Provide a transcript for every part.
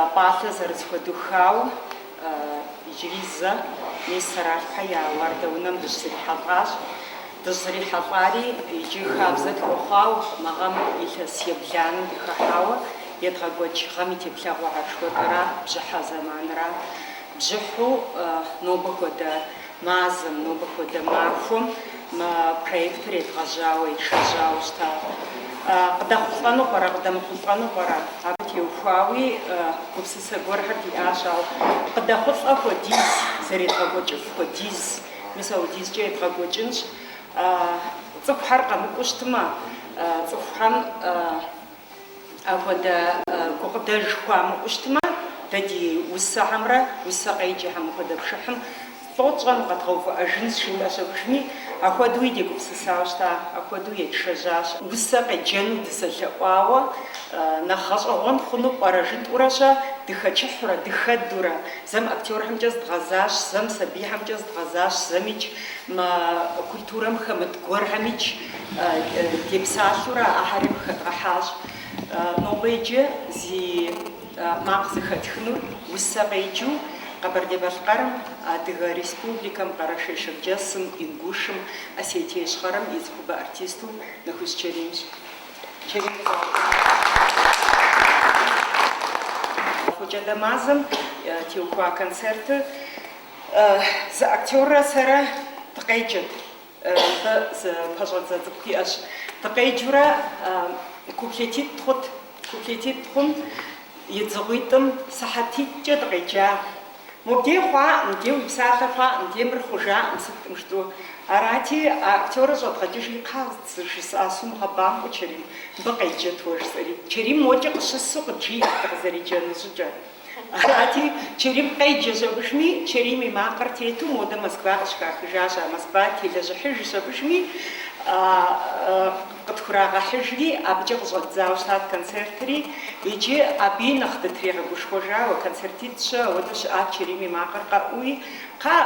А пӏалъэ зэрызыхуэдухауэ иджыри зэ, мис Сэралъпхьэ я уардэ унэм дыщызэрихьэлӏащ. Дыщызэрихьэлӏари иджы хабзэ тхуэхъуауэ, мы гъэм илъэс ебланэм дыхыхьауэ едгъэкӏуэкӏ гъэм и теплъэгъуэ аршхуэдэра, бжьыхьэ зэманра. Бжьыхьу нобэ хуэдэ. Мазэм, нобэ хуэдэ махуэм, мы проектыр едгъэжьауэ, ешэжьауэ щыта. Къыдэхъулӏэну пӏэрэ, къыдэмыхъулӏэну пӏэрэ? Абы теухуауи гупсысэ гуэрхэр диӏащ, ауэ къыдэхъулӏэ хуэдиз, зэредгъэкӏуэкӏыф хуэдиз, мис апхуэдизкӏэ едгъэкӏуэкӏынщ. Цӏыхухэр къэмыкӏуу щытмэ, цӏыхухэм. Апхуэдэ гукъыдэж хуамыӏэу щытмэ, дэ ди усэхэмрэ усэ къеджэхэм мыпхуэдэ пшыхьым лӏо тщӏэн, къэдгъэувыӏэжынщ, жытӏэщ абы иужьми, ахуэдэуи дегупсысауэ щыта, апхуэдэу етшэжьащ. Усэ къеджэну дызэлъэӏуауэ нэхъ гъэщӏэгъуэн хъуну пӏэрэ жытӏурэ-щэ, дыхэкӏыхьурэ, дыхэдурэ, зэм актёрхэмкӏэ здгъэзащ, зэм сабийхэмкӏэ здгъэзащ, зэмикӏ мы культурэм хэмыт гуэрхэмикӏ Депсалъэурэ ахьэри къыхэдгъэхьащ. Нобэ иджы зи макъ зыхэтхынур усэ къеджэу Къэбэрдей-Балъкъэрым, Адыгэ Республикэм, Къэрэшей-Шэрджэсым, Ингушым, Осетие Ищхъэрэм и цӏыхубэ артисту Нэхущ Чэримщ. Фокӏадэ мазэм теухуа концертыр зы актёррэ сэрэ дыкъеджэт. Зы пэщӏэдзэ цӏыкӏу иӏэщ. Дыкъеджурэ куплетитӏ хъут. Куплетитӏ хъум, едзыгъуитӏым сыхьэтитӏкӏэ дыкъеджа. Мобдей хъуакъым, мыбдей уи псалъэ хъуакъым, мыбдей мыр хъужакъым, сыткӏым жытӏу. Арати, а актёрыр щӏэдгъэкӏыжи, Кхъа, жысӏащ, сумыгъэбампӏэу, Чэрим, мыбы къеджэт уэ, жысӏэри. Чэрим мокӏэ къыщысу къыджиӏэрт дыкъызэреджэну щӏыкӏэ. Арати, Чэрим къеджэщ абы иужьми, Чэрим и макъыр тету модэ Москва къыщыхахыжащ, а Москва телэжьыхьыжщ абы иужьми, къытхурагъэхьыжри, абыкӏэ къыщӏэддзауэ щытат концертри. Иджы абыи нэхъ дытригъэгушхуэжауэ, концертитӏ-щэ ауэдэ щыӏат Чэрим и макъыр къэӏууи, Кхъа,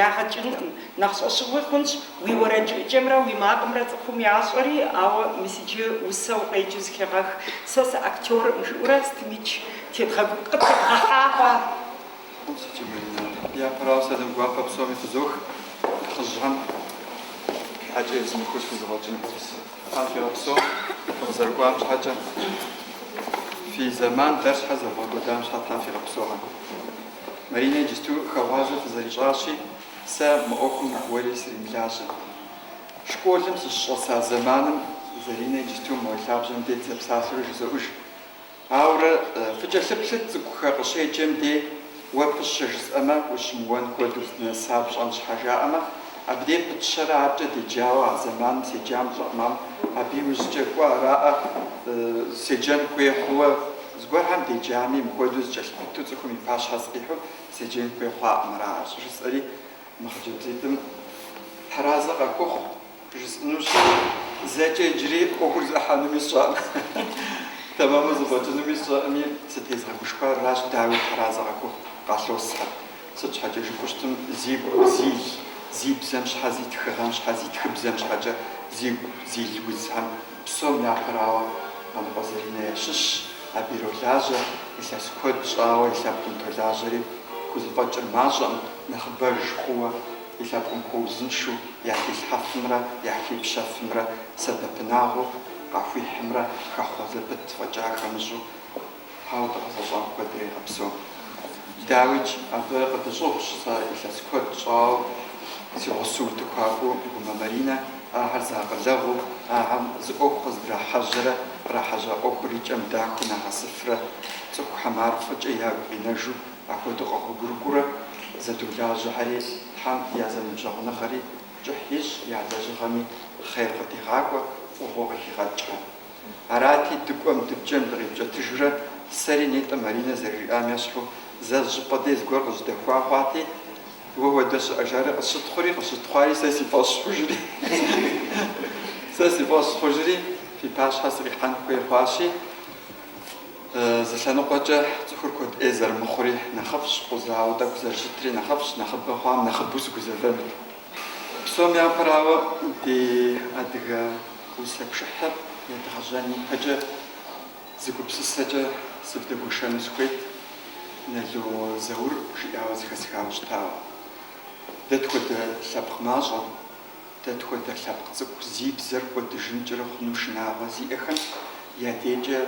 ягъэ кӏынкъым, нэхъ щӏэщыгъуи хъунщ, Уи уэрэджыӏыкӏэмрэ уи макъымрэ цӏыхум ящӏэри, ауэ мис иджы усэ укъеджэу зыхегъэх, сэ сыактёркъым, жыӏэурэ сытмикӏ тедгъэгу-, къытедгъэхьа хъуа. Япэрауэ сэлам гуапэ псоми фызох, нэхъыжьхэм щхьэкӏэ езмыхыу схузыгъуэкӏын. Тхьэм фигъэпсэу, фыкъызэрыкӏуам щхьэкӏэ, фи зэман дэр щхьэ зэвгъэкӏуэдам щхьэ Тхьэм фигъэпсэу, Маринэ иджысту хэгъуазэ фызэрищӏащи, Сэ мы ӏуэхум нэхъ уэри сримылажьэ. Школым сыщыщӏэса зэманым Заринэ иджыпсту мо лъабжьэм дей дызэпсалъэурэ жызоӏэж. Ауэрэ фыкӏэлъыплъыт цӏыкӏухэ къыщеджэм дей уэ пыщэ жысӏэмэ, ущымыуэн хуэдэу здынэса пщӏэн щхьэ жаӏэмэ, абдей пытщэрэ аркӏэ деджауэ а зэманым седжам щӏэкъым, ам абы и ужькӏэ кӏуэ араӏэ седжэн хуей хъууэ. Зыгуэрхэм деджами, мыхуэдэу зэкӏэлъыпыту цӏыхум и пащхьэ сыкъихьу Седжэн хуей хъуаӏым, аращ, жысӏэри, мы хъыджэбзитӏым тхьэразэ къахухъу, жысӏынущ, зэкӏэ иджыри ӏуэхур зэӏыхьэнуми сщӏэӏым, тэмэму зэфӏэкӏынуми сщӏэӏыми, сытезгъэгушхуар аращ, дауи, тхьэразэ къахухъу, къалъосхьэ, сыт щхьэкӏэ жыпӏэу щытым, зи, зи бзэм щхьэ, зи тхыгъэм щхьэ, зи тхыбзэм щхьэкӏэ, зигу зил узхэм Псом япэрауэ, Къаныкъуэ Заринэ ящыщщ, абы иролажьэ, илъэс куэд щӏауэ и лъэпкъым толажьэри, хузэфӏэкӏыр мащӏэкъым, нэхъыбэж хъууэ, и лъэпкъым хуэузыншэу яхилъхьэфымрэ яхипщэфымрэ сэбэпынагъыу къахуихьымрэ хэхъуэ зэпыт фӏэкӏа хэмыщӏу, Тхьэуэ дыкъэзыгъэщӏам куэдрэ игъэпсэу. Дауикӏ, абы къыдыщӏыгъущ сэ илъэс куэд щӏауэ си гъусэу утыхуакӏуэу Гумэ Маринэ, ахэр зэакъылэгъуу, ахэм зы ӏуэху къыздрахьэжьэрэ кърахьэжьа ӏуэхур и кӏэм дахэу нагъэсыфрэ, цӏыхухьэм ар фӏыкӏэ ягу къинэжу апхуэдэу къэгъуэгурыкӏуурэ зэдолажьэхэри, Тхьэм я зэныбжьэгъуныгъэри кӏыхь ищӏ, я лэжьыгъэми хъер къыдигъакӏуэ, фӏыгъуэ къыхигъэкӏрэ. Арати, дыкӏуэм, дыпкӏэм дыкъипкӏэтыжурэ, сэри нетӏэ Маринэ зэрыжиӏам ещхьу, зэ зыщӏыпӏэ дей зыгуэр къызжьэдэхуа хъуати, Уэ хуэдэ щыӏэ жари къысщытхъури, къысщытхъуари сэ си фӏэщ хъужри, сэ си фӏэщ хъужри, фи пащхьэ сыкъихьэн хуей хъуащи, зы лъэныкъуэкӏэ цӏыхур куэд ӏей зэрымыхъури нэхъыфӏщ, къузауэ тӏэкӏу зэрыщытри нэхъыфӏщ, нэхъыбэ хъуам нэхъыбэу сыгузэвэнут. Псом япэрауэ, ди адыгэ усэ пшыхьыр едгъэжьэн ипэкӏэ зы гупсысэкӏэ сывдэгуэшэну сыхуейт, Нало Заур жиӏауэ зэхэсхауэ щытауэ. Дэ тхуэдэ лъэпкъ мащӏэм, дэ тхуэдэ лъэпкъ цӏыкӏу зи бзэр кӏуэдыжынкӏэрэ хъуну шынагъуэ зиӏэхэм я декӏэ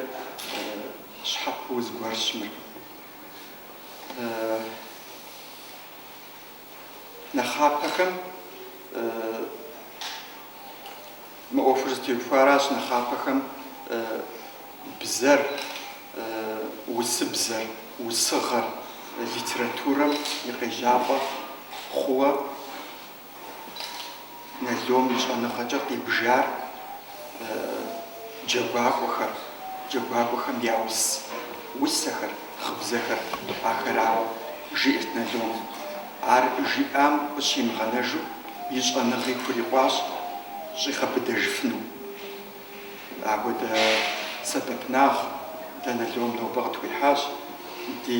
щхьэпэу зыгуэрщ мыр. Нэхъапэхэм мы ӏуэхур зытеухуаращ, нэхъапэхэм бзэр, усыбзэр, усыгъэр литературэм и къежьапӏэ хъууэ Налом и щӏэныгъэкӏэ къибжар джэгуакӏуэхэр, джэгуакӏуэхэм я ус, усэхэр, гъыбзэхэр ахэрауэ, жиӏэрт Налом. Ар жиӏам къыщимыгъэнэжу и щӏэныгъи хурикъуащ щӏигъэбыдэжыфыну. Апхуэдэ сэбэпынагъ дэ Налом нобэ къытхуихьащ ди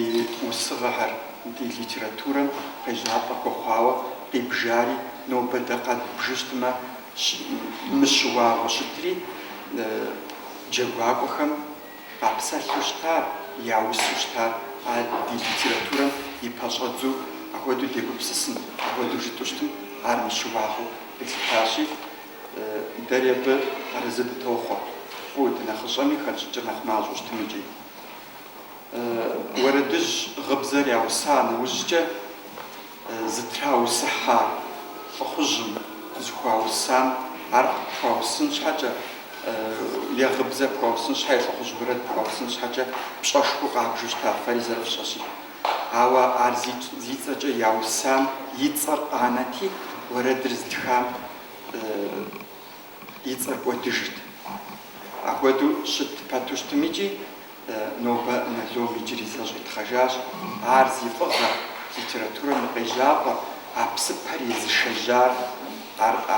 усыгъэхэр, ди литературэм къежьапӏэ хуэхъуауэ къибжари, нобэ дэ къэдбжу щытмэ мыщыуагъэу щытри, джэгуакӏуэхэм къапсэлъу щытар, я усу щытар ар ди литературэм и пэщӏэдзу апхуэдэу дегупсысын, апхуэдэу жытӏэу щытым ар мыщыуагъэу къилъытащи, Дэри абы арэзы дытохъуэ. Фӏу, дынэхъыщӏэми хэтщӏыкӏыр нэхъ мащӏэу щытым икӏи. Уэрэдыжь гъыбзэр яуса нэужькӏэ зытраусыхьа лӏыхъужьым зыхуаусам ар къыпхуаусын щхьэкӏэ е гъыбзэр пхуаусын щхьэкӏэ, лӏыхъужь уэрэд пхуаусын щхьэкӏэ пщӏэшхуэу къабжу щыта фэри зэрыфщӏэщи. Ауэ ар зи цӏэкӏэ яусам и цӏэр къанэти, уэрэдыр зытхам и цӏэр кӏуэдыжырт. Апхуэдэу щыт пэту щытым икӏи нобэ Налом иджыри зэ щӏитхъэжащ, ар зи фӏыгъэр, литературэм и къежьапӏэр, а псыпэр езышэжьар ар а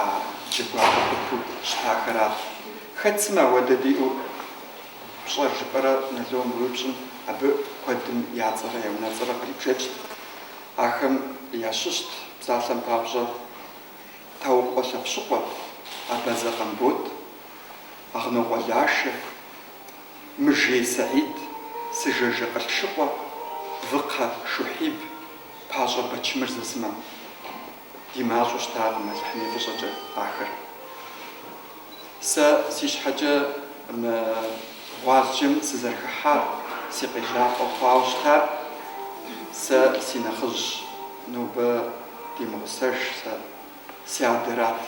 джэгуакӏуэ цӏыхуу щытахэращ. Хэт сымэ ауэдэ диӏэу пщӏэр жыпӏэрэ Налом уеупщӏым, абы куэдым я цӏэрэ я унэцӏэрэ кърибжэкӏт. Ахэм ящыщт, псалъэм папщӏэ, Таукъуэ Лъэпщыкъуэ, Абазэ Къамбот, Агънокъуэ Лашэ, Мыжей Саид, Сыжажэ Къылъшыкъуэ, Выкхъэ Шухьиб, Пащӏэ Бэчмырзэ сымэ. Ди мащӏэу щытакъым Алыхьым и фӏыщӏэкӏэ ахэр. Сэ си щхьэкӏэ мы гъуазджэм сызэрыхыхьар си къежьапӏэ хъуауэ щытар, сэ си нэхъыжь, нобэ димыгъусэж сэ, си адэрат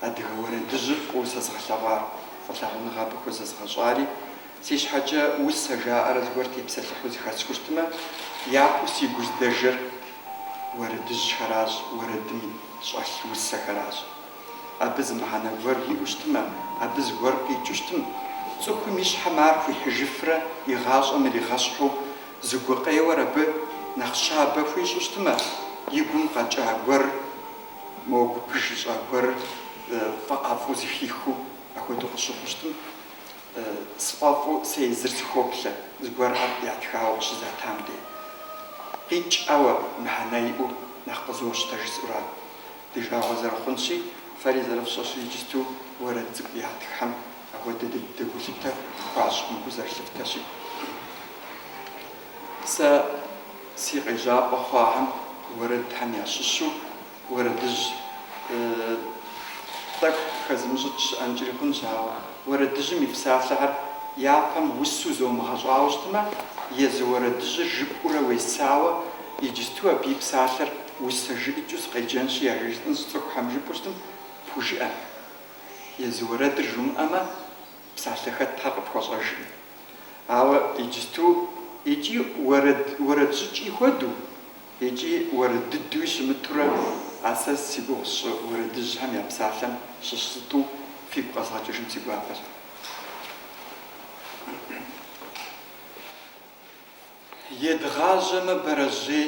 адыгэ уэрэдыжьыр фӏыуэ сэзыгъэлъэгъуар, фӏылъагъуныгъэ абы хузэзыгъэщӏари, си щхьэкӏэ усэ жаӏэрэ зыгуэр тепсэлъыхьу зыхэсхыу щытмэ, япэу си гу здэжэр уэрэдыжьхэращ, уэрэдым щӏэлъ усэхэращ. Абы зы мыхьэнэ гуэр иӏэу щытмэ, абы зыгуэр къикӏыу щытым. Цӏыхум и щхьэм ар хуихьыжыфрэ и гъащӏэм иригъэщхьу зы гукъеуэр абы нэхъ щабэ хуищӏу щытмэ, и гум къэкӏа гуэрыр мо гупыж ищӏа гуэрыр фӏэӏэфӏу зыхихыу апхуэдэу къыщыхъуу щытым. Сфӏэфӏу сэ езыр сыхоплъэ, зыгуэрхэр ятхауэ къыщызатам де. Къикӏ, ауэ мыхьэнэ иӏэу нэхъ къызощтэ жысӏэурэ. Ди жагъуэ зэрыхъунщи, фэри зэрыфщӏэщи иджысту уэрэд цӏыкӏу ятххэм ахуэдэ дыдэ гулъытэ хуащӏ мыбы зэрылъыфтэщи. Сэ си къежьапӏэ хъуахэм уэрэдхэм ящыщу уэрэдыжь тӏэкӏу хэзымыщӏыкӏ щыӏэнкӏри хъунщ, ауэ уэрэдыжьым и псалъэхэр япэм усу зомыгъэщӏауэ щытмэ, езы уэрэдыжьыр жыпӏэурэ уесауэ иджысту абы и псалъэр Усэ жыӏэкӏэу сыкъеджэнщи, яжесӏэнщ цӏыхухэм жыпӏэу щытым пхужыӏэ. Езы уэрэдыр жумыӏэмэ, псалъэ хэтхьэр къыпхуэщӏэжкъым. Ауэ иджысту икӏи уэрэд щӏыкӏи хуэдэу, икӏи уэрэд дыдуи щымытурэ, а сэ зи гугъу сщӏы уэрэдыжьхэм я псалъэм щыщ зытӏу фигу къэзгъэкӏыжын си гуапэщ. Едгъажьэмэ бэрэжьей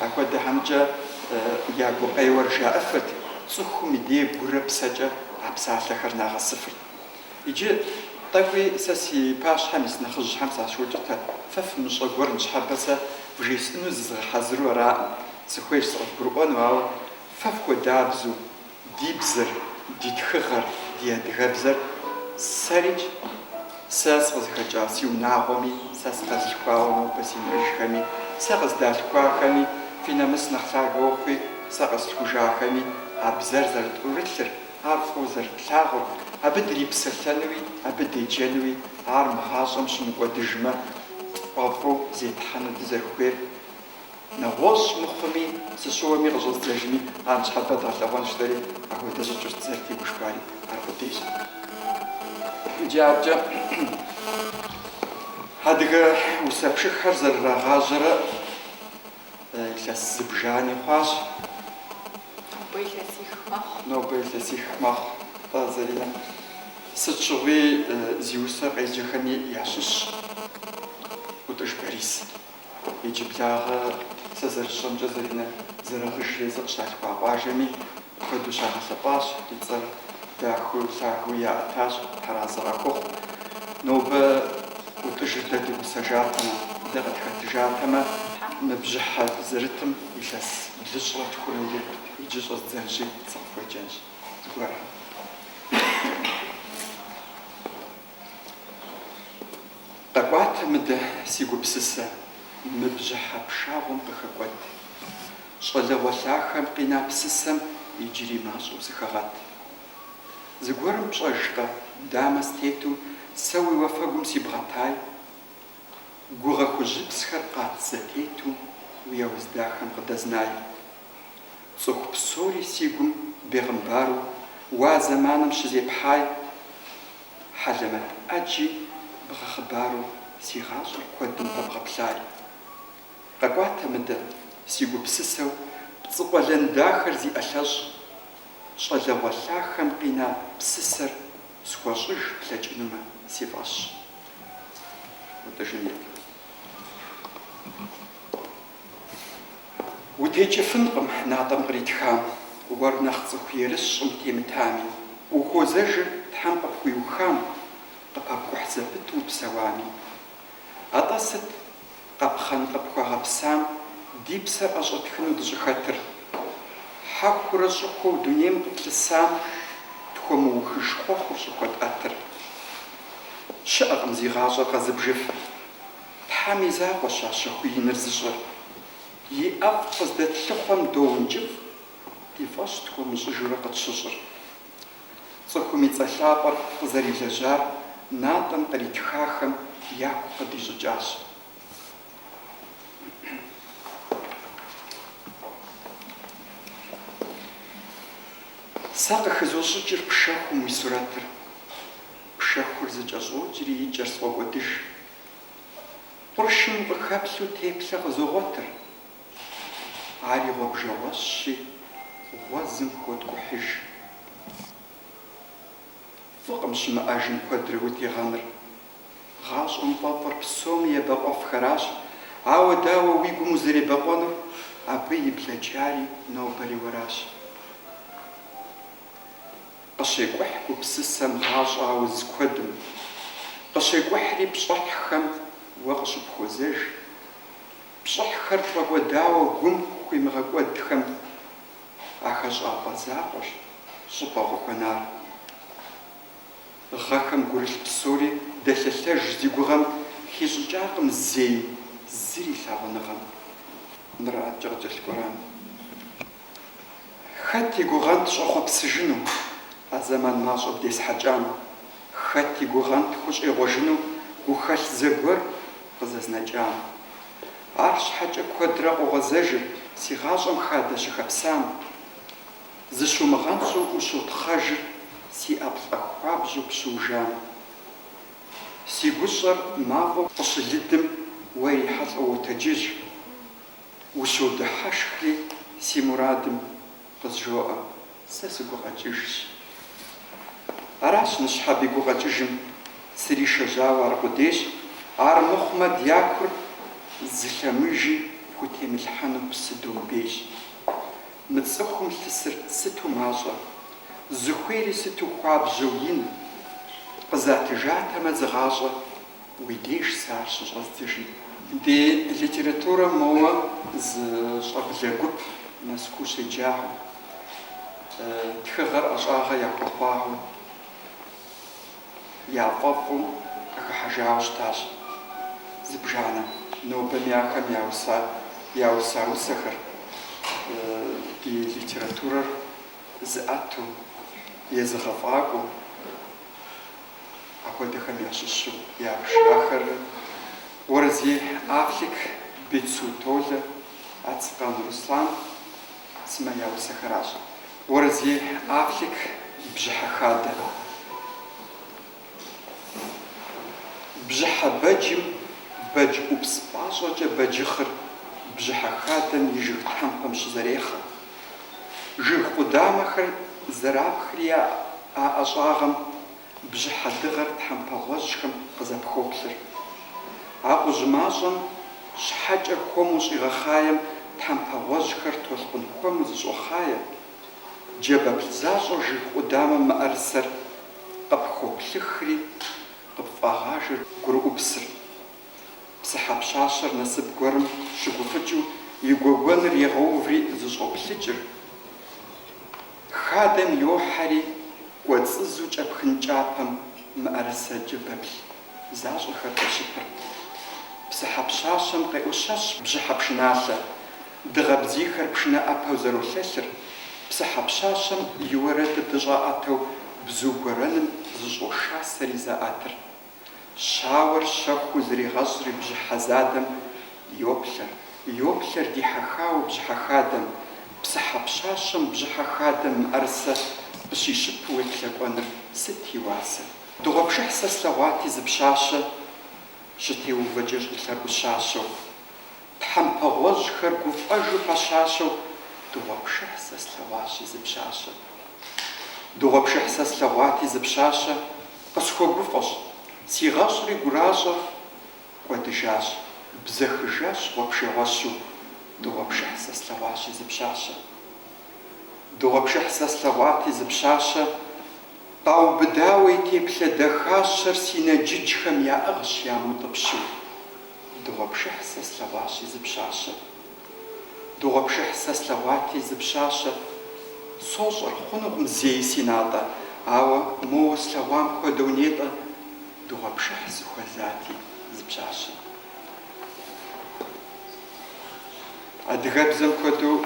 Апхуэдэхэмкӏэ я гукъеуэр жаӏэфырт, цӏыхум и де гурэ псэкӏэ а псалъэхэр нагъэсыфырт. Иджы тӏэкӏуи сэ си пащхьэм ис нэхъыжьхэм сащоукӏытэ, фэ фымыщӏэ гуэр ныщхьэбэ сэ вжесӏэну зызгъэхьэзыру араӏым, сыхуейщ сыкъывгурыӏуэну, ауэ фэ фхуэдабзэу Ди бзэр, ди тхыгъэр, ди адыгэбзэр сэрикӏ, сэ сыкъызыхэкӏа си унагъуэми, сэ сыкъэзылъхуауэ нобэ си нэхъыжьхэми, сэ къыздалъхуахэми, фи нэмыс нэхъ лъагэ ухъуи, сэ къэслъхужахэми, а бзэр зэрытӏурылъыр, ар фӏыуэ зэрытлъагъур, абы дрипсэлъэнуи, абы деджэнуи, ар мы гъащӏэм щымыкӏуэдыжмэ, тфӏэфӏу зетхьэну дызэрыхуейр, Нэгъуэщӏ мыхъуми, сыщыуэми къыщӏэздзэжми, а ныщхьэбэ дгъэлъэгъуэнщ жытӏэри апхуэдэ щӏыкӏэу дызэрытегушхуари ар къудейщ. Иджы аркӏэ адыгэ усэпшыххэр зэрырагъажьэрэ илъэс зыбжани хъуащ. Нобэ илъэсих мэхъу, тӏэ, Заринэ. Сыт щыгъуи зи усэ къеджэхэми ящыщщ ӏутӏыж Борис. Иджыблагъэ сэ зэрысщӏэмкӏэ Заринэ Зэрэгъыж езыр къыщалъхуа къуажэми апхуэдэу щагъэлъэпӏащ, и цӏэр дахэу, лъагэуи яӏэтащ, Тхьэразэ къахухъу. Нобэ ӏутӏыжыр дэ ди гъусэжатэмэ, дэ къытхэтыжатэмэ, мы бжьыхьэ дызэрытым илъэс блыщӏрэ тхурэ ирикъурт. Иджы щӏэздзэнщи, сыкъыфхуеджэнщ зыгуэрхэм. Къэкӏуатэ мыдэ, си гупсысэ, мы бжьыхьэ пшагъуэм къыхэкӏуэт. Щӏалэгъуэ лъахэм къина псысэм иджыри мащӏэу сыхэгъэт. Зыгуэрым пщӏэжкъэ, дамэ стету сэ уи уафэгум сибгъэтай? Гугъэ хужьыпсхэр къат зэтету уи ауз дахэм къыдэзнай? Цӏыху псори си гум бегъымбару а зэманым щызепхьай, хьэлэмэт ӏэджи бгъэхъыбару си гъащӏэр куэдым пэбгъэплъай. Къэкӏуатэ мыдэ, си гупсысэу пцӏы къуэлэн дахэр зи ӏэлъэщӏ, щӏалэгъуэ лъахэм къина псысэр схуэщӏыж плъэкӏынумэ си фӏэщ. Утекӏыфынкъым натӏэм къритхам, уэр нэхъ цӏыху ерыщ щӏым темытами, ухуозэжыр Тхьэм къыпхуиухам, къыпэпкӏухь зэпыту упсэуами. Атӏэ сыт къэпхъэн къыпхуэгъэпсам ди псэр ӏэщӏэтхыну дыщӏыхэтыр? Хьэхурэ щӏыхуэу дунейм къытлъысам тхуэмыухыж хъуэхъур щӏыхуэтӏэтыр? Щыӏэкъым зи гъащӏэр къэзыбжыфыр. Тхьэм и закъуэщ а щэху иныр зыщӏэр. И ӏэфӏ къыздэтлъыхъуэм доункӏыфӏ, ди фӏэщ тхуэмыщӏыжурэ къытщыщӏыр. Цӏыхум и цӏэ лъапӏэр къызэрилэжьар натӏэм къритхахэм яку къыдищӏыкӏащ. Сэ къыхызощӏыкӏыр пшэхум уи сурэтыр. Пшэхур зэкӏэщӏокӏри и кӏэр сфӏокӏуэдыж, Къуршым къыхэплъу теплъэ къызогъуэтыр. Ари гъуэбжэгъуэщщи, гъуэзым хоткӏухьыж. Фӏыкъым щымыӏэжым куэдрэ утегъэныр. Гъащӏэм фӏэфӏыр псоми ебэкъуэфхэращ, ауэ дауэ уи гум узэребэкъуэнур, абы и блэкӏари нобэри уэращ. Къыщекӏухь гупсысэм гъащӏэ ауз куэдым. Къыщекӏухьри пщӏыхьхэм уэ къыщыпхуозэж. Пщӏыхьхэр тфӏэкӏуэдауэ гум хуимыгъэкӏуэдхэм а хэщӏапӏэ закъуэщ щӏыпӏэ къыхуэнар. Гъэхэм гурылъ псори дэлъэлъэж зи гугъэм хищӏыкӏакъым зей зыри лъагъуныгъэм. Мыраткӏэ къыкӏэлъыкӏуэрам. Хэт и гугъэнт щӏэхъуэпсыжыну а зэман мащӏэ бдесхьэкӏам? Хэт и гугъэнт хущӏегъуэжыну гухэлъ зэгуэр къызэзнэкӏам? Арщхьэкӏэ куэдрэ къогъэзэжыр си гъащӏэм хадэ щыхэпсам, зыщумыгъэнщӏу ущотхъэжыр си ӏэплӏэ хуабжьу пщыужам. Си гущӏэр мафӏэу къыщылыдым уэ ирихьэлӏэу уотэджыж. Ущодыхьэшхри си мурадым къызжоӏэ, сэ сыгукъэкӏыжщ. Аращ ныщхьэби гукъэкӏыжым сришэжьауэ аркъудейщ, ар мыхъумэ дякур зы лъэмыжи пхутемылъхьэну псы домбейщ. Мы цӏыхум лъысыр сыту мащӏэ, зыхуейри сыту хуабжьэу ин, къызатыжатэмэ зы гъащӏэ Уи деж сэ ар щыщӏэздзэжын. Ди литературэм моуэ зы щӏэблэ гуп Мэзкуу щеджагъэу, тхыгъэр ӏэщӏагъэ яхуэхъуагъэу, яфӏэфӏу къыхыхьэжауэ щытащ. Зыбжанэ нобэми ахэм яуса усэхэр ди литературэр зыӏэту, езыгъэфӏакӏуэу Апхуэдэхэм ящыщу ябж ахэр Уэрэзей Афлик, Бицу Толэ, Ацкъан Руслан сымэ я усэхэращ. Уэрэзей Афлик бжьыхьэ хадэ. Бжьыхьэ бэджым бэдж ӏупс пӏащӏэкӏэ бэджыхъыр бжьыхьэ хадэм и жыг тхьэмпэм щызэрехъэ, Жыг къудамэхэр зэрапхри я ӏэщӏагъэм бжьыхьэ дыгъэр тхьэмпэгъуэжьхэм къызэпхоплъыр. Акъужь мащӏэм щхьэкӏэ хуэму щӏигъэхъаем тхьэмпэгъуэжьхэр толъкъун хуэму зыщӏохъае, джэбэплъ защӏэу жыг къудамэм мыӏэрысэр къыпхоплъыхри къыпфӏагъажэр гурыӏупсыр. Псыхьэ пщащэр насып гуэрым щыгуфӏыкӏыу и гуэгуэныр егъэуври зыщӏоплъыкӏыр, хадэм йохьэри, кӏуэцӏызу кӏэпхын кӏапэм мыӏэрысэ джэбэплъ защӏэхэр къещыпыр. Псыхьэ пщащэм къеӏущэщ бжьыхьэ пшыналъэ, дыгъэ бдзийхэр пшынэ ӏэпэу зэролъэлъыр, псыхьэ пщащэм и уэрэдыр дыщӏаӏэтэу бзу гуэрэным зыщӏошасэри заӏэтыр. Щауэр щэхуу зригъэщӏри бжыхь задэм йоплъэр. Йоплъэр дихьэхауэ бжьыхьэ хадэм. Псыхьэ пщащэм бжьыхьэ хадэм мыӏэрысэ къыщищыпу уеплъэкӏуэныр сыт и уасэ? Дыгъуэпшыхь сэ слъэгъуати зы пщащэ щытеувэкӏэ щӏылъэгу щащэу. Тхьэмпэ гъуэжьхэр гуфӏэжу пэщащэу Дыгъуэпшыхь сэ слъэгъуащи зы пщащэ. Дыгъуэпшыхь сэ слъэгъуати зы пщащэ, Къысхуэгуфӏэщ, сигъэщӏри гуращэ кӏуэдыжащ, Бзэхыжащ гъуэбжэгъуэщу, Дыгъуэпшыхь сэ слъэгъуащи зы пщащэ. Дыгъуэпшыхь сэ слъэгъуати, зы пщащэ къаубыдауэ и теплъэ дахащэр си нэджыджхэм яӏыгъщ ямыутӏыпщу. Дыгъуэпшыхь сэ слъэгъуащи, зы пщащэ. Дыгъуэпшыхь сэ слъэгъуати, зы пщащэ. Сощӏэр, хъунукъым зэи си натӏэ, ауэ моуэ слъэгъуам хуэдэу нетӏэ. Дыгъуэпшыхь сыхуэзати, зы пщащэ. Адыгэбзэм хуэдэу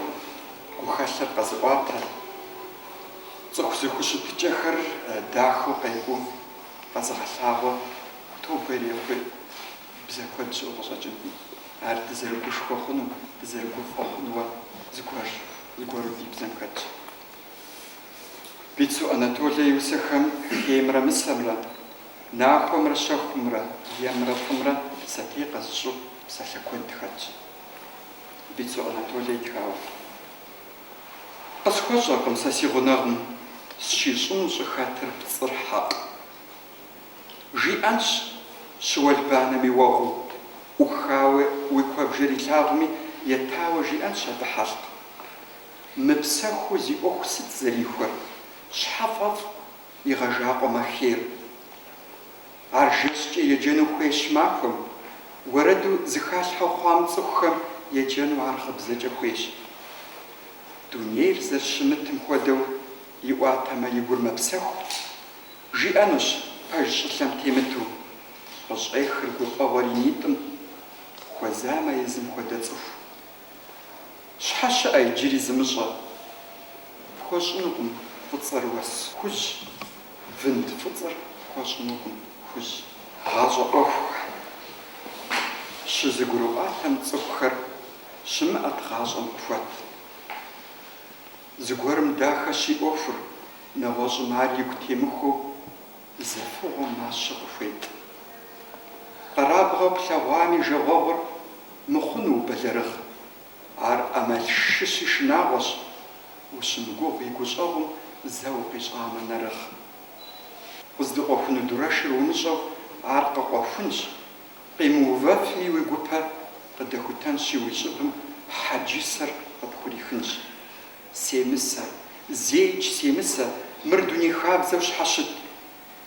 гухэлъыр къэзыӏуатэ, цӏыху зэхущытыкӏэхэр дахэу къекӏуу къэзыгъэлъагъуэ, тобэ ирехъуи, бзэ куэд щыӏэу къыщӏэкӏынкъым, ар дызэрыгушхуэ хъуну, дызэрыгуфӏэ хъуну, э, зыгуэру ди бзэм хэтщ. Бицу Анатолэ и усэхэм хеймрэ мысэмрэ. Нахуэмрэ щэхумрэ емрэ фӏымрэ сэтей къэзыщӏу псалъэ куэд хэтщ. Бицу Анатолэ итхауэ. Къысхуэщӏэркъым сэ си гъунэгъум сщищӏыну щӏыхэтыр пцӏыр хьэкъ. Жиӏэнщ щыуэлбанэми уэгъуу, ӏухауэ уи куэбжэр илъагъуми етауэ жиӏэнщ абы хьэлъкъ. Мыпсэхуу зи ӏуэху сыт зэрихуэр, щхьэ фӏэфӏ Игъэжакъуэмэ хейр. Ар жэщкӏэ еджэну хуейщ махуэм, уэрэду зэхалъхьэу хъуам цӏыхухэм еджэну ар гъыбзэкӏэ хуейщ. Дунейр зэрыщымытым хуэдэу иӏуатэмэ и гур мэпсэху, жиӏэнущ пэж щӏылъэм темыту, къыщӏехыр гуфӏэгъуэр и нитӏым, хуэзамэ езым хуэдэ цӏыху. Щхьэ щыӏэ иджыри зымыщӏэ? Пхуэщӏынукъым фӏыцӏэр уэс хужь, вынд фӏыцӏэр пхуэщӏынукъым хужь. Гъащӏэ ӏуэхухэр. Щызэгурыӏуатэм цӏыхухэр щымыӏэт гъащӏэм къыхуэт. Зыгуэрым дахэщи ӏуэхур, нэгъуэщӏым ар игу темыхуэу Зы фыгъуэ мащэ къыхуетӏ. Къэрабгъэ плъэгъуами жагъуэгъур мыхъуну убэлэрыгъ. Ар ӏэмалшыщи шынагъуэщ, ущымыгугъ и гущӏэгъум зэ укъищӏамэ нэрыгъ. Къыздыкъуэхуну дурэшыр умыщӏэу ар къыкъуэхунщ, къимыувэфми уи гупэ къыдэхутэнщи уи щӏыбым хьэджэсэр къыпхурихынщ. Семысэ, зэикӏ семысэ, мыр дуней хабзэу щхьэ щыт?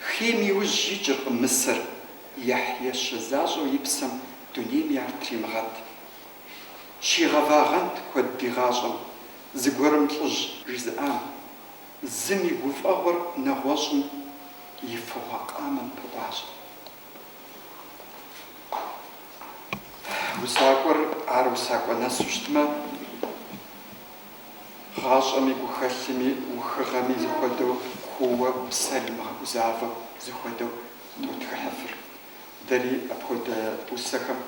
Хейм и ужь икӏыркъым мысэр. Яхь ещэ защӏэу и псэм дунейми ар тримыгъэт. Щигъэвагъэнт куэд и гъащӏэм зэгуэрым лӏыжь жызыӏам, зым и гуфӏэгъуэр нэгъуэщӏым и фыгъуэ къамэм пыӏуащ. Усакӏуэр ар усакӏуэ нэсу щытмэ, гъащӏэми, гухэлъми, ухыгъэми зыхуэдэу куууэ, псэри мыгъэгузавэу зыхуэдэу тотхыхьыфыр. Дэри апхуэдэ усэхэм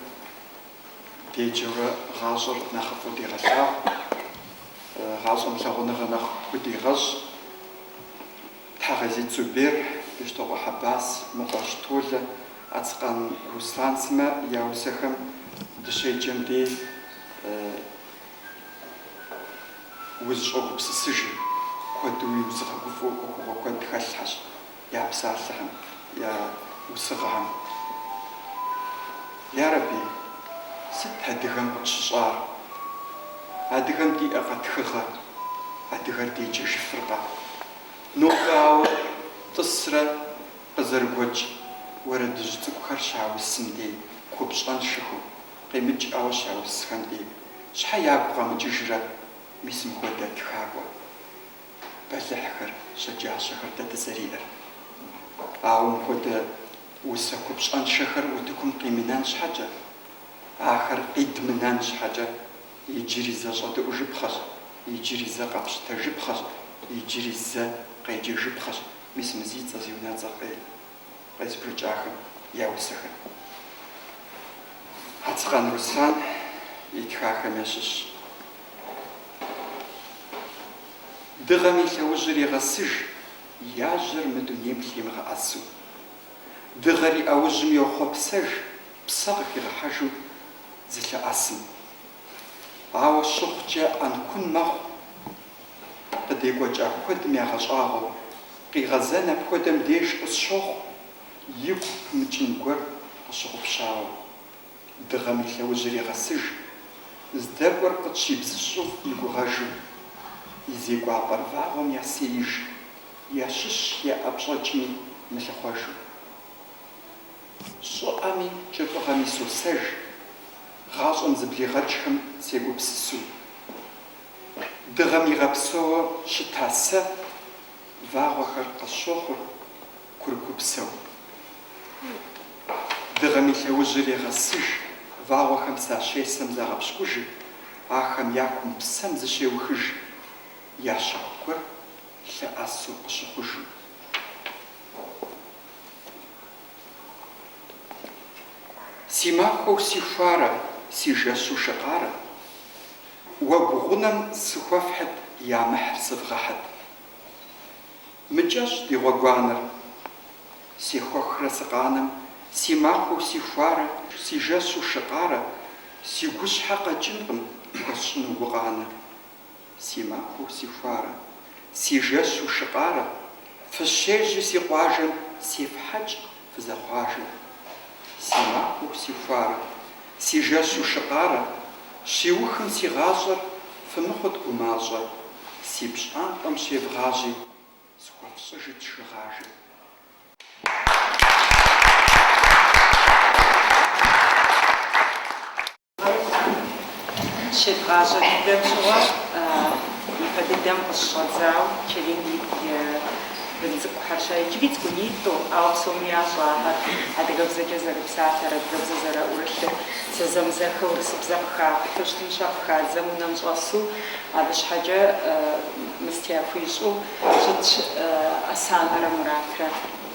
деджэурэ гъащӏэр нэхъыфӏу дегъэлъагъу, гъащӏэм лъагъуныгъэ нэхъ худегъэщӏ. Тхьэгъэзит Зубер, Бещтокъуэ Хьэбас, Мыкъуэжь Толэ, Ацкъан Руслан сымэ я усэхэм дыщеджэм деж узыщӏэгупсысыжыр куэду узыгъэгуфӏэу ӏуэхугъуэ куэд хэлъхьэщ я псалъэхэм, я усыгъэхэм. Ярэби, сыт адыгэм къытщыщӏар? Адыгэм диӏэкъэ тхыгъэ? Адыгэр деджэжыфыркъэ? Нобэ ауэ тӏысрэ къызэрыгуэкӏ уэрэдыжь цӏыкӏухэр щаусым дей купщӏэншэхэу къимыкӏауэ щаусхэм дей щхьэ ягу къэмыкӏыжрэ? Мис мыхуэдэ тхакӏуэ бэлыхьхэр, щэджащэхэр дэ дызэриӏэр. Ауэ мыхуэдэ усэ купщӏэншэхэр утыкум къимынэн щхьэкӏэ, ахэр къидмынэн щхьэкӏэ, иджыри зэ щӏэдэӏужыпхъэщ, иджыри зэ къэпщытэжыпхъэщ, иджыри зэ къеджэжыпхъэщ, мис мы зи цӏэ зи унэцӏэр къелэ. къезбжэкӏахэм я усэхэр. Ацкъан Руслан итхахэм ящыщщ. Дыгъэм и лъэужьыр егъэсыж, яжьэр мы дунейм лъимыгъэӏэсу. Дыгъэр и ӏэужьым йохъуэпсэж, псэ къыхигъэхьэжу зылъэӏэсым. Ауэ щыхъукӏэ ӏэнкун мэхъу Къыдекӏуэкӏа куэдым ягъэщӏагъуэу къигъэзэн апхуэдэм деж къысщохъу, игу пымыкӏын гуэр къыщыгъупщауэ. Дыгъэм и лъэужьыр егъэсыж, здэкӏуэр къытщибзыщӏу и гугъэжым. И зекӏуапӏэр вагъуэм ясеиж, ящыщ яӏэпщӏэкӏми мылъыхъуэжу. Щӏыӏэми кӏыфӏыгъэми сосэж, гъащӏэм зыблигъэкӏхэм сегупсысу. Дыгъэм игъэпсэууэ щыта сэ вагъуэхэр къысщохъур курыкупсэу. Дыгъэм и лъэужьыр егъэсыж, вагъуэхэм сащесэм загъэпщкӏужыр, ахэм якум псэм зыщеухыж, я щэху гуэр лъэӏэсу къыщыхъужу. Си махуэу си хуарэ, си жэщу шы къарэ. Уэгу гъунэм сыхуэфхьыт ямыхьыр сывгъэхьыт. Мыкӏэщӏ ди гъуэгуанэр. Сехуэхрэ сыкъанэм, си махуэу си хуарэ, си жэщу шыкъарэ, си гущхьэ къэкӏынкъым хуэсщӏыну гукъанэ. Си махуэу си хуарэ, си жэщу шыкъарэ, фыщежьи си къуажэм сефхьэкӏ. Фызэхъуажэу. Си махуэу си хуарэ. Си жэщу шыкъарэ. Щиухым си гъащӏэр. Фымыхъут гумащӏэ. Си пщӏантӏэм щевгъажьи. Схуэфщӏыжыт шыгъажэ. щедгъащӏэ дыдэм щыгъуэ ипэ дыдэм къыщыщӏэдзауэ Черим и бын цӏыкӏухэр щэ иджыри цӏыкӏунитӏэ, ауэ псоми ящӏэ ахэр адыгэбзэкӏэ зэрыпсалъэр, адыгэбзэ зэраӏурылъыр, зэзэмызэхэ урысыбзэ къыхахьу щытым щэ къыхадзэм унэм щӏэсу, абы щхьэкӏэ мыстэ яхуищӏу щытщ Асанэрэ Муратрэ.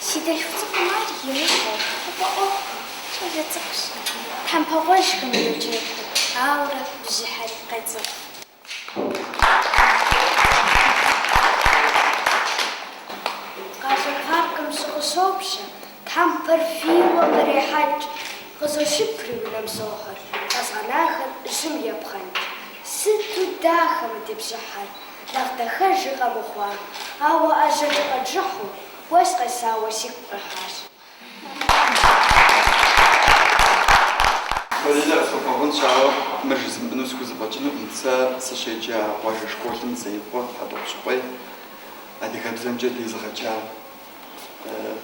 Си дэлъху цӏыкӏум ар имыщӏэу, фӏэӏуэхукъым, щӏалэ цӏыкӏущ. Тхьэмпэ гъуэжьхэм йоджэгу, ауэрэ бжьыхьэри къецӏыху. Къалэ паркым жьы къыщопщэ, тхьэмпэр фийуэ кърехьэкӏ. Къызощыпри унэм сохьыр, къэзгъэнахэр жьым епхъэнкӏ. Сыту дахэ мы ди бжьыхьэр, нэхъ дахэжи къэмыхъуа, ауэ ӏэжьэкӏэ къэджыхьу, Уэс къесауэ сигу къихьащ. Валерэ, къысхуэбгъэгъунщ, ауэ мыр жызмыӏэну схузэфӏэкӏынукъым. Сэ сыщеджа къуажэ школым Зеикъуэ Хьэтӏохъущыкъуей адыгэбзэмкӏэ дезыгъэджа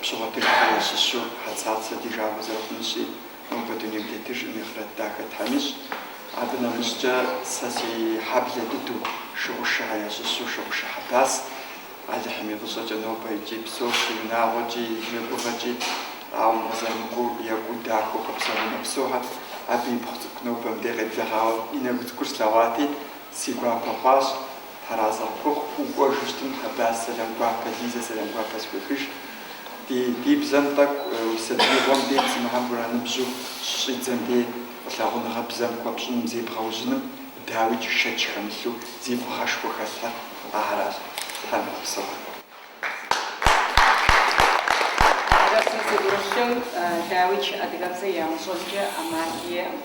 Пщыгъуэтыжхьэ ящыщу Хьэцацэ ди жагъуэ зэрыхъунщи, нобэ дунейм тетыжкъым, и ахърэт дахэ Тхьэм ищӏ. Абы нэмыщӏкӏэ сэ си хьэблэ дыдэу Шыгъушыхьэ ящыщу Шыгъушэ Хьэбас Алыхьым и фӏыщӏэкӏэ нобэ икӏи псэущ, и унагъуэкӏи, и ныбжьэгъугъэкӏи, ауэ укъызэрымыкӏуэу екӏуу дахэу къэпсэунэ псохэр, абы ипхъу цӏыкӏу нобэм де къеблэгъауэ и нэгу цӏыкӏур слъэгъуати, си гуапэ хъуащ, Тхьэразэ къыпхухъу, укӏуэжу щытым Хьэбас сэлам гуапэ, Лизэ сэлам гуапэ схуехыж. Ди, ди бзэм тӏэкӏу уи сабиигъуэм де зимыхьэм ураныбжьу щыщӏидзэм де, лъагъуныгъэ бзэм хуэпщӏыным, зебгъэужьыным, Дауикӏ шэч хэмылъу зи фӏыгъэшхуэ хэлъхэр ахэращ, Тхьэм игъэпсэу. Адыгэбзэр зыӏурылъым, дауикӏ адыгэбзэ ямыщӏэнкӏэ ӏэмал иӏэкъым.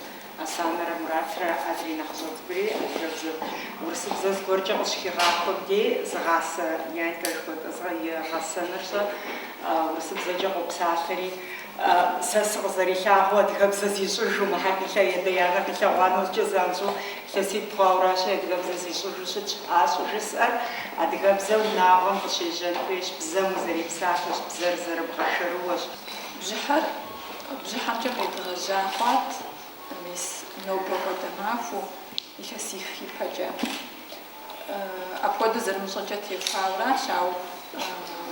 Асанэрэ Муратрэ адрей нэхъыщӏэ цӏыкӏури адыгэбзэу. Урысыбзэ зыгуэркӏэ къыщыхигъахуэм дей, зыгъасэ Янькэ жыхуэтӏэзгъэ и гъэсэныр щэ урысыбзэкӏэ къопсалъэри, Сэ сыкъызэрилъагъуу, адыгэбзэ зищӏыжу, мыхьэр къилъэ и адэ-анэ къилъэгъуа нэужькӏэ занщӏэу илъэситӏ хъуауэращи, адыгэбзэ зищӏыжу щытщ. Ар щӏыжысӏэр, адыгэбзэ унагъуэм къыщежьэн хуейщ, бзэм узэрипсалъэщ, бзэр зэрыбгъэшэрыуэщ. Бжьыхьэр бжьыхьэмкӏэ къедгъэжьа хъуат, мис нобэ хуэдэ махуэу, илъэсих ипэкӏэ. Апхуэдэу зэрымыщӏэкӏэ техуауэращ, ауэ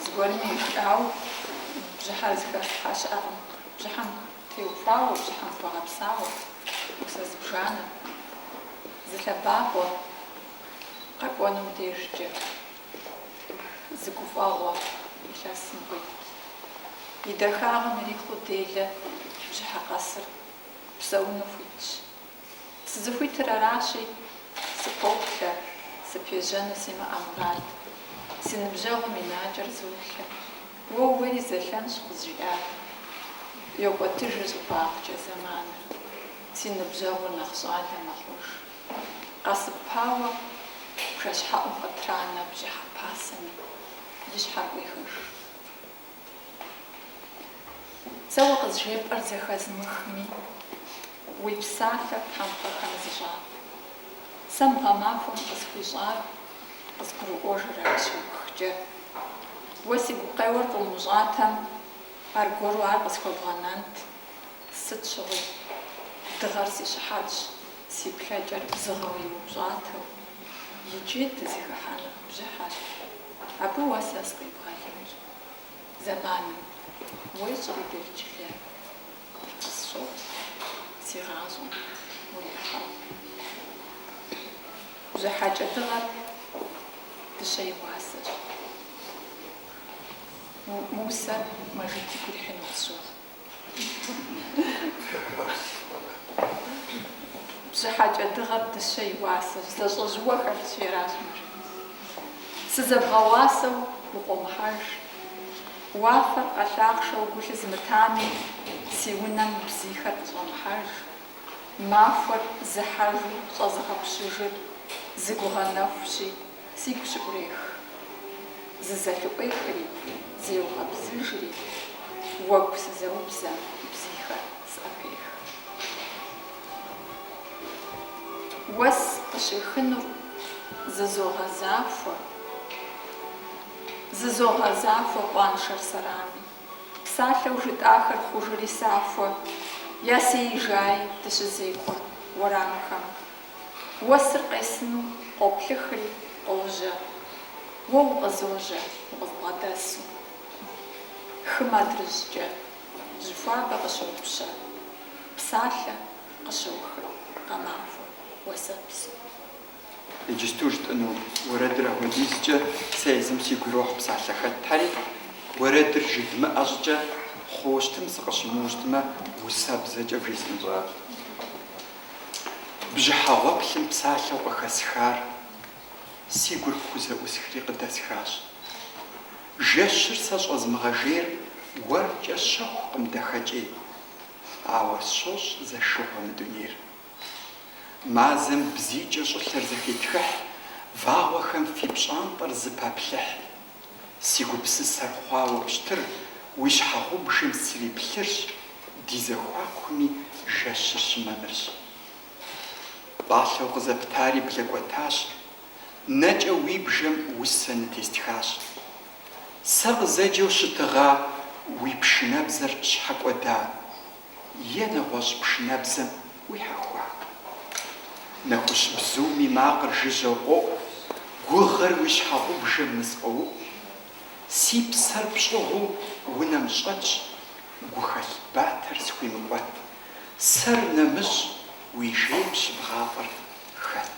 зыгуэрми ищӏауэ бжьыхьэр зыхэлъхьа щыӏэкъым. Бжьыхьэм теухуауэ, бжьыхьэм хуэгъэпсауэ, усэ зыбжанэ, зы лъэбакъуэ къэкӏуэнум дежкӏэ зы гуфӏэгъуэ илъэсым къует. И дахагъэм ирихъуу делэ бжьыхьэ къэсыр псэуну хуитщ. Сызыхуитыр аращи, сыпоплъэ, сыпежьэну симыӏэ мурад. Си ныбжьэгъум и накӏэр золъэ. Уэ уейри зэлъэнщ къызжиӏар. Йокӏуэтыжыр щӏыбагъкӏэ зэманыр. Си ныбжьэгъур нэхъ щӏалэ мэхъуж. Къэсыпауэ бжэщхьэӏум къытранэ бжьыхьэ пасэми, и щхьэр къуехыж. Сэ уэ къызжепӏэр зэхэзмыхми, уи псалъэр тхьэмпэхэм зыщӏат. Сэ мы гъэмахуэм къысхуищӏар къызгурыӏуэжырэ щыухкӏэ? Уэ си гукъеуэр къыумыщӏатэм, аргуэру ар къысхуэбгъэнэнт, сыт щыгъуи. Дыгъэр си щыхьэтщ, си плъэкӏэр бзыгъэу иупщӏатэу, иджы дызыхыхьэну бжьыхьэр, абы уэ сэ сыкъибгъэлынщ. зэманым, уэ щӏалэджылэ къысщохъу си гъащӏэм урихьэу. Бжьыхьэкӏэ дыгъэр дыщэ и уасэщ. Мы усэр Мэжид игу ирихьыну къысщохъу. Бжьыхьэкӏэ дыгъэр дыщэ и уасэщ, зэщӏэжь уэ хэлъщи аращ мыр. Сызэбгъэуасэу укъуэмыхьэж. Уафэр къэлъахъшэу гу лъызмытами, си унэм бзийхэр къыщӏэмыхьэж. Махуэр зыхьэжу щӏэзыгъэпщыжыр зы гугъэ нэхущи, Сигу щыӏурех, зызэлъыӏуехри, зеугъэбзыжри, уэгу сызэубзэм бзийхэр сӏэпех. Уэс къыщехынур зызогъэзахуэ, зызогъэзахуэ къуаншэр сэрами, псалъэу жытӏахэр хъужри сахуэ, ясеижаи дыщызекӏуэ уэрамхэм Уэсыр къесыну къоплъыхри, къожьэ. Уэ укъызожьэ укъызбгъэдэсу. Хым адрыжькӏэ жьыхуабэ къыщопщэ, псалъэ къыщохыр гъэмахуэ уэсэпсу. Иджысту жытӏыну уэрэдыр апхуэдизкӏэ сэ езым сигу ирохь псалъэ хэтхэри, уэрэдыр жыдмыӏэ щӏыкӏэ хъущтым сыкъыщымыуэщтмэ, усэбзэкӏэ вжесӏэнщ. бжьыхьэ гъуэплъым псалъэу къыхэсхар си гур хузэӏусхри къыдэсхащ. Жэщыр сэ щӏэзмыгъэжейр уэркӏэ щэхукъым дахэкӏей, ауэ сщощӏ зэшыгъуэ мы дунейр. Мазэм бзийкӏэ щӏылъэр зэхетхыхь, вагъуэхэм фи пщӏантӏэр зэпаплъыхь. Си гупсысэр хъуауэ пщтыр уи щхьэгъубжэм сриплъырщ, ди зэхуакуми жэщыр щымамырщ. Пӏалъэу къызэптари блэкӏуэтащ, нэкӏэ уи бжэм усэ нытестхащ. Сэ къызэджэу щытыгъа уи пшынэбзэр щхьэ кӏуэда? е нэгъуэщӏ пшынэбзэм уихьэхуа? Нэхущ бзум и макъыр жыжьэу къоӏу, гугъэр уи щхьэгъубжэм нысфӏоуӏу. Си псэр пщӏыгъуу унэм щӏэтщ, гухэлъ батэр схуимыкӏуэт. Сэр нэмыщӏ уи жейм щыбгъафӏэр хэт?